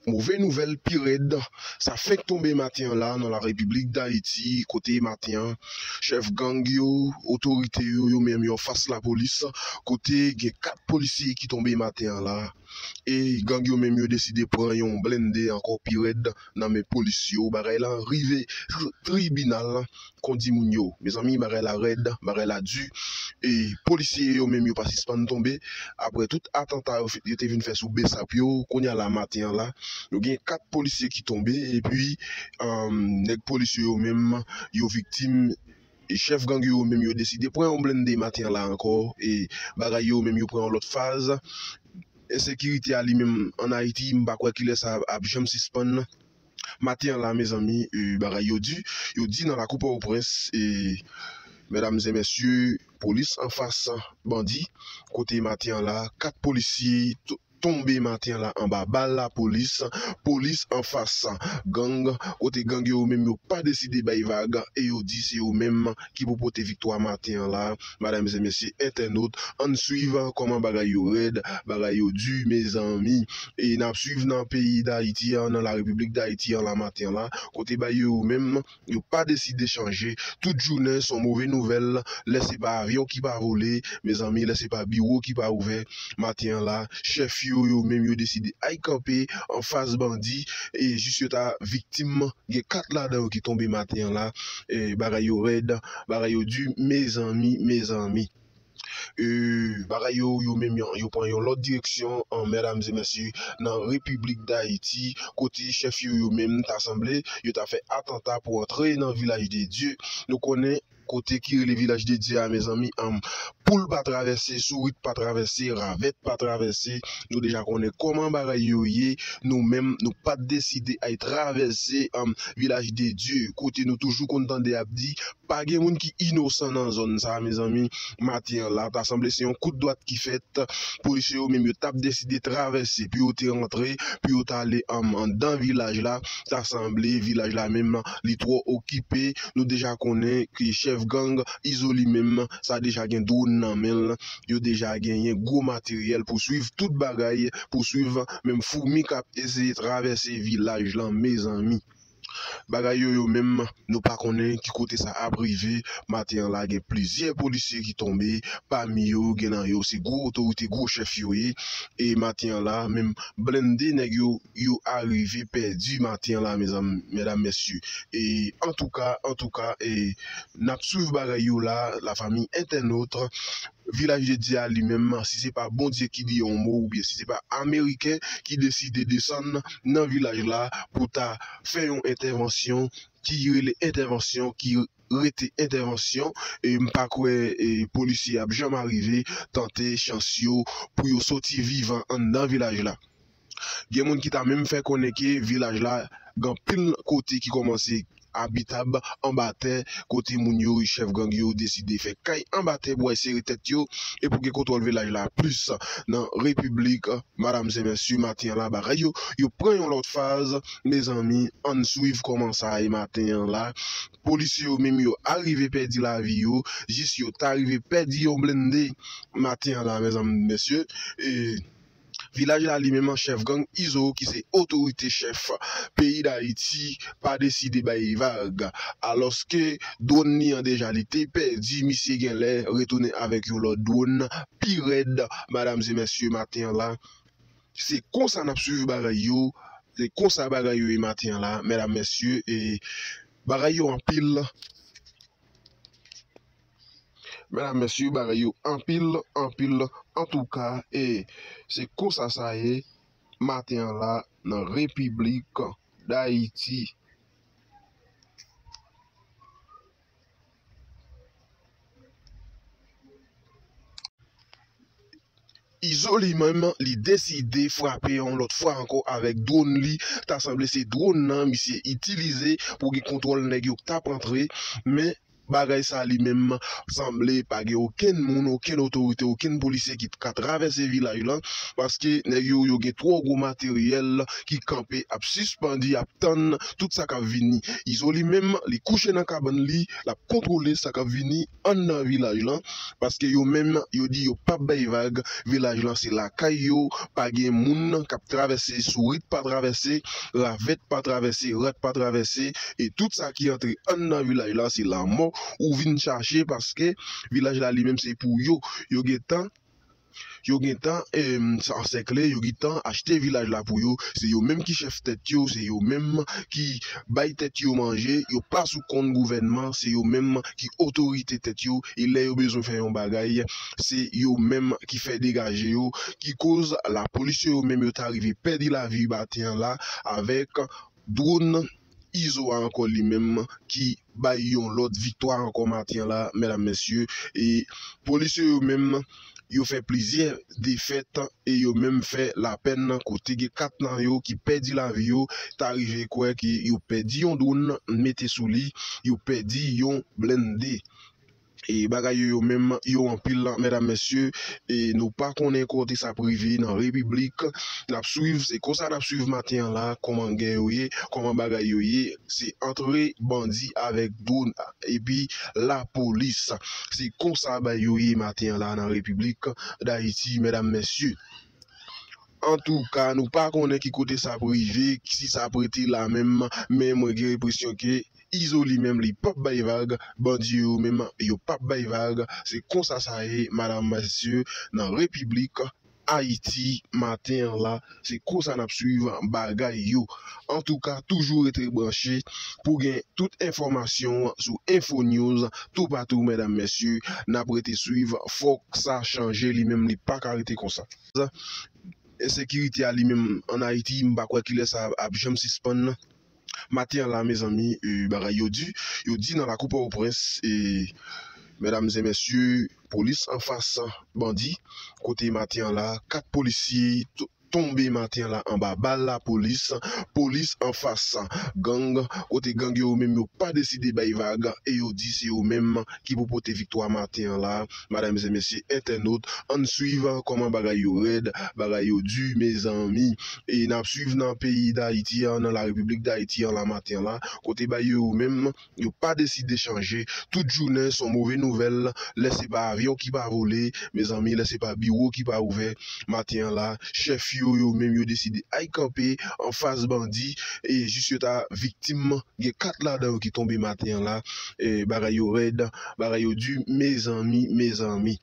Move nouvèl pi rèd sa fenk tonbe maten an la nan la repiblik dayiti kote maten an chèf gang yo otorite yo yo menm yo anfas lapolis kote gen 4 polisye ki tonbe maten an la e gang yo menm yo deside pran yon blennde ankò pi rèd nan men polis yo bagay la rive jou tribinal kondi moun yo mezanmi bagay la rèd bagay la du e polisye yo menm yo pa sispann tonbe aprè tout atanta yo te vin fè sou bsap yo kounya la maten an la nou gen 4 polisye ki tonbe epi nèg polis yo yo menm yo viktim. Chèf gang yo menm yo deside pran yon blennde maten an la ankò e bagay yo menm yo pran yon lòt faz. Ensekirite a li menm an Ayiti m pa kwè kilè sa ap janm sispann. Maten an la mezanmi bagay yo di, yo di nan lakou Pòtoprens e mèdamzèmèsye polis anfas bandi kote maten an la 4 polisye tonbe maten la anba bal lapolis, polis anfas gang, kote gang yo yo menm yo pa deside bay vag e yo di se yo menm ki pou pote viktwa maten an la madam e mesye entènot ann swiv kòman bagay yo rèd bagay yo di mezanmi e nap swiv nan peyi dayiti an nan la repiblik dayiti an la maten an la kote bay yo yo menm. yo pa deside chanje tout jounen son move nouvèl lè se pa avyon ki pa vole mezanmi lè se pa biwo ki pa ouvè maten an la chèf yo yo menm yo deside ay kanpe anfas bandi e jis yo ta viktim gen 4 ladan yo ki tonbe maten an la bagay yo rèd bagay yo di mezanmi mezanmi. Euu bagay yo yo menm yan yo pran yon lòt direksyon an mèdames et mèsye nan repiblik dayiti kote chèf yo yo menm ta sanble yo ta fè atanta pou antre nan vilaj de dye nou konnen kote ki rele vilaj de dye a mezanmi anm poul pa travèse sourit pa travèse ravèt pa travèse nou deja konnen kòman bagay yo ye nou menm nou pat deside ay travèse anm vilaj de dye kote nou toujou konn tande yap di Pa gen moun ki inosan nan zòn sa mezanmi, maten an la ta sanble se yon kout dwat ki fèt, polisye yo menm yo tap deside travèse pou yo te rantre, pou yo tale anndan vilaj la, ta sanble vilaj la menm li twò okipe, nou deja konnen ke chèf gang Izo li menm sa deja gen dwòn nan men l, yo deja genyen gwo materyèl pou swiv tout bagay, pou swiv menm foumi kap eseye travèse vilaj lan mezanmi. Bagay yo yo menm nou pa konnen ki kote sa ap rive, maten an la gen plizyè polisye ki tonbe, pami yo gen nan yo se gwo otorite gwo chèf yo ye, e maten an la menm blende nèg yo yo arive pèdi maten an la mezanmi mèdam mèsye e antouka antouka e nap swiv bagay yo la la fami entènot. Vilaj de Dye a li menm, si se pa Bondye ki di yon mo oubyen si se pa Ameriken ki deside desann nan vilaj la pou ta fè yon entèvansyon ki rele entèvansyon ki rete entèvansyon, m pa kwè polisye ap janm arive tante chans yo pou yo soti vivan anndan vilaj la. Gen moun ki ta menm fè konnen ke vilaj la gen anpil kote ki kòmanse abitab anba tè kote moun yo, chèf gang yo, deside fè kay anba tè pou al sere tèt yo e pou gen kontwòl vilaj la plis nan repiblik madam se mesye maten an la bagay yo yo pran yon lòt faz mezanmi ann swiv kòman sa ye maten an la polisye yo menm yo arive pèdi lavi yo jis yo ta rive pèdi yon blende maten an la mezanmi mesye e. Vilaj la li menm an chèf gang izo ki se otorite chèf peyi dayiti pa deside bay li vag alòske dwòn li an deja li te pèdi misye genlè retounen avèk yon lòt dwòn pi rèd madam e mèsye maten an la se konsa nap swiv bagay yo se konsa bagay yo ye maten an la medam mesye e bagay yo anpil. Medam mesye bagay yo anpil anpil antouka e se konsa sa ye maten an la nan repiblik dayiti. Izo li menm li deside frape yon lòt fwa ankò avèk dwonn li, ta sanble se dwonn nan misye itilize pou gen kontwòl nèg yo k tap antre, men bagay sa li menm sanble pa gen okenn moun, okenn otorite, okenn polisye ki t ka travèse vilaj lan, paske nèg yo yo gen twò gwo materyèl ki kanpe ap sispann ap tann tout sa kap vini. Izo li menm li kouche nan kabann li, lap kontwole sa kap vini. Ann nan vilaj lan paske yo menm yo di yo pap bay vag vilaj lan se lakay yo pa gen moun kap travèse sourit pa travèse ravèt pa travèse rat pa travèse e tout sa ki antre ann nan vilaj la se lanmò ou vin chache paske vilaj la li menm se pou yo yo gentan Yo gentan ansèkle, yo gentan achte vilaj la pou yo, se yo menm ki chèf tèt yo, se yo menm ki bay tèt yo manje, yo pa sou kont gouvènman, se yo menm ki otorite tèt yo e lè yo bezwen fè yon bagay se yo menm ki fè degaje yo ki koz lapolis yo yo menm yo ta rive pèdi lavi maten an la avèk dwonn. Izo a ankò li menm ki bay yon lòt viktwa ankò maten an la medam mesye e polisye yo menm yo fè plizyè defèt e yo menm fè lapèn kote gen 4 nan yo ki pèdi lavi yo ta rive kwè ke yo pèdi yon dronn mete sou li yo pèdi yon blennde E bagay yo yo menm yo anpil la medam mesye e nou pa konnen kote sa ap rive nan repiblik nap swiv se konsa nap swiv maten an la koman gè yo ye koman bagay yo ye se antre bandi avek dron epi la polis se konsa bay yo ye maten an la nan repiblik dayiti medam mesye antouka nou pa konnen ki kote sa ap rive si sa ap rete la menm men mwen gen enpresyon ke. Izo li menm li pap bay vag bandi yo menm yo pap bay vag se konsa sa ye madam mesye nan repiblik ayiti maten an la se konsa nap swiv bagay yo antouka toujou rete branche pou gen tout enfòmasyon sou info news toupatou medam mesye nap rete swiv fòk sa chanje li menm li paka rete konsa. Ensekirite a li menm an ayiti m pa kwè kilè sa ap janm sispann. Maten an la mezanmi bagay yo di, yo di nan lakou pòtoprens medam zè mesye polis anfas bandi kote maten an la 4 polisye tonbe maten an la anba bal lapolis, polis anfas gang kote gang yo yo menm yo pa deside bay vag e yo di se yo menm ki pou pote viktwa maten an la. Madam e mesye entènot ann swiv kòman bagay yo rèd bagay yo di mezanmi e nap swiv nan peyi dayiti an nan la repiblik dayiti an la maten la kote bay yo yo menm yo pa deside chanje tout jounen son move nouvèl lè se pa avyon ki pa vole mezanmi lè se pa biwo ki pa ouvè maten an la chèf yo yo menm yo deside ay kanpe anfas bandi e jis yo ta viktim gen 4 ladan yo ki tonbe maten an la bagay yo rèd. Bagay yo du mezanmi mezanmi.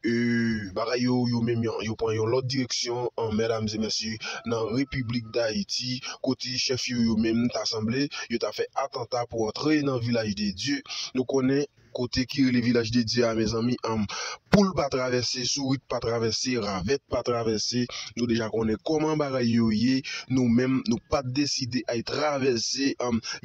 Euuh bagay yo yo menm yo pran yon lòt direksyon an mèdam e mesye nan repiblik dayiti kote chèf yo yo menm ta sanble yo ta fè atanta pou antre nan vilaj de dye nou konnen kote ki rele vilaj de dye a mezanmi anm poul pa travèse sourit pa travèse ravèt pa travèse Nou deja konnen kòman bagay yo ye, nou menm nou pa t deside al travèse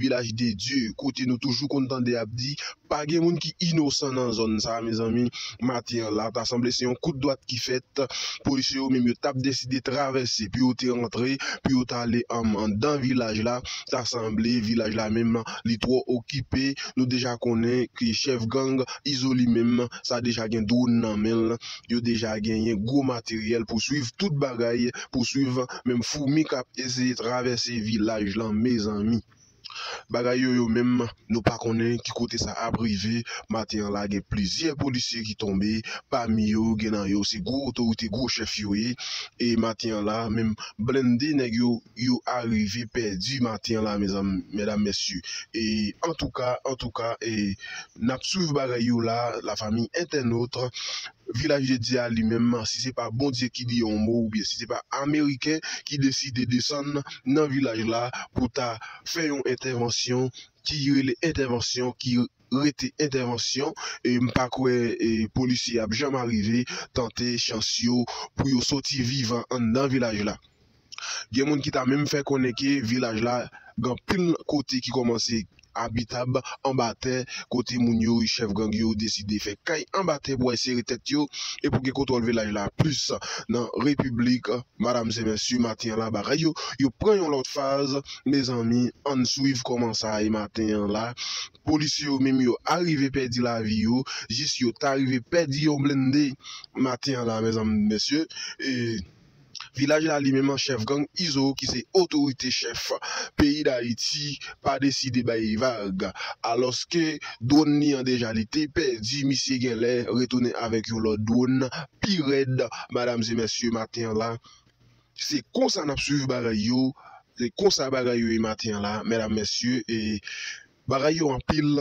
Vilaj de Dye kote nou toujou konn tande y ap di pa gen moun ki inosan nan zòn sa a mezanmi maten an la ta sanble se yon kout dwat ki fèt polisye yo menm yo t ap deside travèse pou yo te rantre pou yo t ale anndan vilaj la ta sanble vilaj la menm li twò okipe nou deja konnen ke chèf gang Izo li menm sa deja gen dwòn nan men l. yo deja genyen gwo materyèl pou swiv tout bagay pou swiv menm foumi kap eseye travèse vilaj lan mezanmi bagay yo yo menm nou pa konnen ki kote sa ap rive maten an la gen plizyè polisye ki tonbe pami yo gen nan yo se gwo otorite gwo chèf yo ye e maten an la menm blende nèg yo yo arive pèdi maten an la mezanmi medam mesye e antouka antouka e. Nap swiv bagay yo la la famille entènotre, vilaj de Dieu a li menm si se pa Bondye ki di yon mo oubyen si se pa ameriken ki deside desann nan vilaj la pou ta fè yon entèvansyon ki rele entèvansyon ki rete entèvansyon m pa kwè polisye ap janm arive tante chans yo pou yo soti vivan anndan vilaj la. Gen moun ki ta menm fè konnen ke vilaj la gen anpil kote ki kòmanse abitab anba tè kote moun yo, chèf gang yo deside fè kay anba tè pou ensere tèt yo e pou gen kontwòl vilaj la plis nan repiblik madam se mesye maten an la bagay yo yo pran yon lòt faz mezanmi ann swiv kòman sa ye maten an la polisye yo menm yo arive pèdi lavi yo jis yo ta rive pèdi yon blende maten an la mezanmi mesye e. Vilaj la li menm chèf gang izo ki se otorite chèf peyi dayiti pa deside bay vag alòske dwonn li an deja li te pèdi misye genlè retounen avèk yon lòt dwonn pi rèd madam e mesye maten an la se konsa nap swiv bagay yo se konsa bagay yo ye maten an la medam mesye e bagay yo anpil.